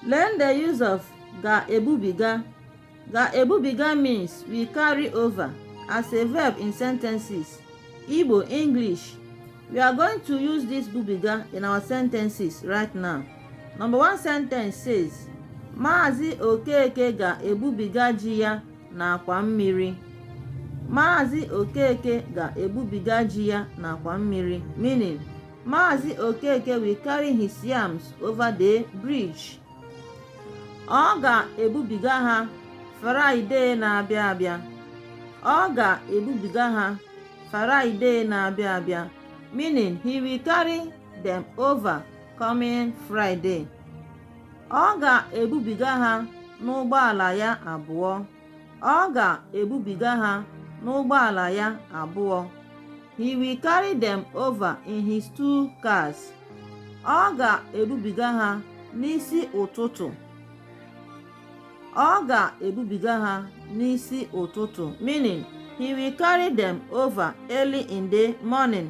Learn the use of ga-ebubiga. Ga-ebubiga means will carry over as a verb in sentences. Igbo, English. We are going to use this bubiga in our sentences right now. Number one sentence says, Maazị Okeke ga-ebubiga ji ya n'akwa mmiri. Maazị Okeke ga-ebubiga ji ya n'akwa mmiri meaning Maazị Okeke will carry his yams over the bridge. Ọ ga-ebubiga ha Fraịde na-abịa abịa. Ọ ga-ebubiga ha Fraịde na-abịa abịa. Meaning he will carry them over coming Friday. Ọ ga-ebubiga ha n'ụgbọala ya abụọ. ọ ga-ebubiga ha n'ụgbọala ya abụọ he will carry them over in his two cars ọ ga-ebubiga ha n'isi ụtụtụ ọ ga-ebubiga ha n'isi ụtụtụ meaning he will carry them over early in the morning